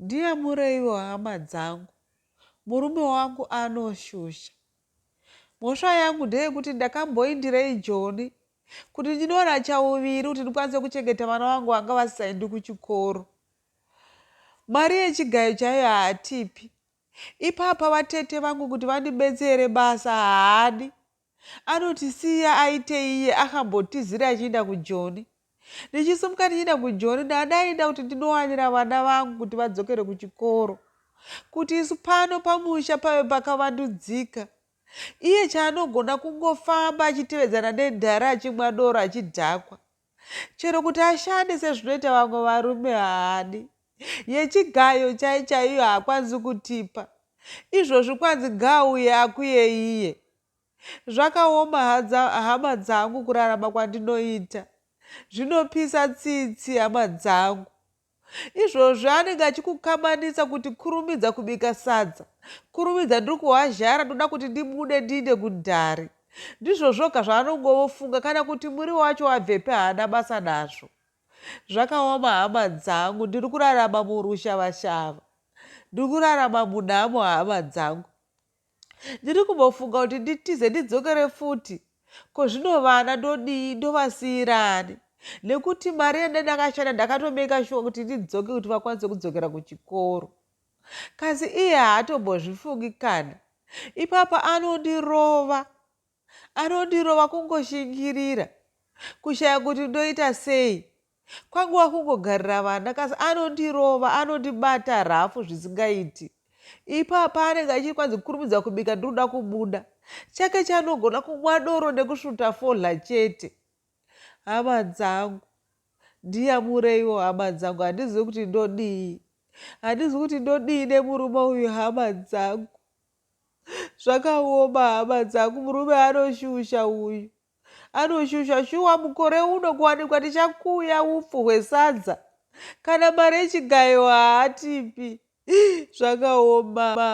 Ndiyamureiwo hama dzangu, murume wangu anoshusha. Mhosva yangu ndeyekuti ndakamboindirei Joni kuti ndinowana chauviri kuti ndikwanise kuchengeta vana vangu vanga vasisaendi kuchikoro. Mari yechigayo chaiyo haatipi. Ipapa vatete vangu kuti vandibetsere basa haadi. Anotisiya aitei iye akambotizira achiinda kujoni. Ndichisimuka ndichiinda kujoni ndanga ndainda kuti ndinowanira vana vangu kuti vadzokere kuchikoro. Kuti isu pano pamusha pave pakavandudzika. Iye chaanogona kungofamba achitevedzana nedare achimwa doro achidhakwa. Chero kuti ashande sezvinoita vamwe varume haadi. Yechigayo chai chaiyo haakwanisi kutipa. Izvozvi kwanzi ngaauye akuye iye. Zvakaoma hadza hama dzangu kurarama kwandinoita. Zvinopisa tsitsi hama dzangu. Izvozvi anenge achikukamanisa kuti kurumidza kubika sadza, kurumidza ndiri kuhwazhara ndoda kuti ndibude ndiinde kudare. Ndizvo zvoga zvaanongovofunga kana kuti muriwo wacho wabvepi haana basa nazvo. Zvakaoma hama dzangu ndiri kurarama murushava-shava. Ndiri kurarama munhamo hama dzangu. Ndiri kumbofunga kuti nditize ndidzokere futi. Ko zvino vana ndodii, ndovasiira ani? Nekuti mari yandanga ndakashanda ndakatomaker shuwa kuti ndidzoke kuti vakwanise kudzokera kuchikoro. Kasi iye haatombozvifungi kana. Ipapa anondirova. Anondirova kungoshingirira. Kushaya kuti ndoita sei. Kwangu wakungogarira vana kasi anondirova anondibata rafu zvisingaiti. Ipapa paanenge achiri kwanzi kurumidza kubika ndinoda kubuda. Chake chanogona kumwa doro nekusvuta fodhla chete. Hama dzangu. Ndiyamureiwo hama dzangu handizivi kuti ndodii. Handizivi kuti ndodii nemurume uyu hama dzangu. Zvakaoma hama dzangu murume anoshusha uyu. Anoshusha shuwa mukore uno kuwanikwa tichakuya upfu hwesadza kana mari yechigayo haatipi zvakaoma.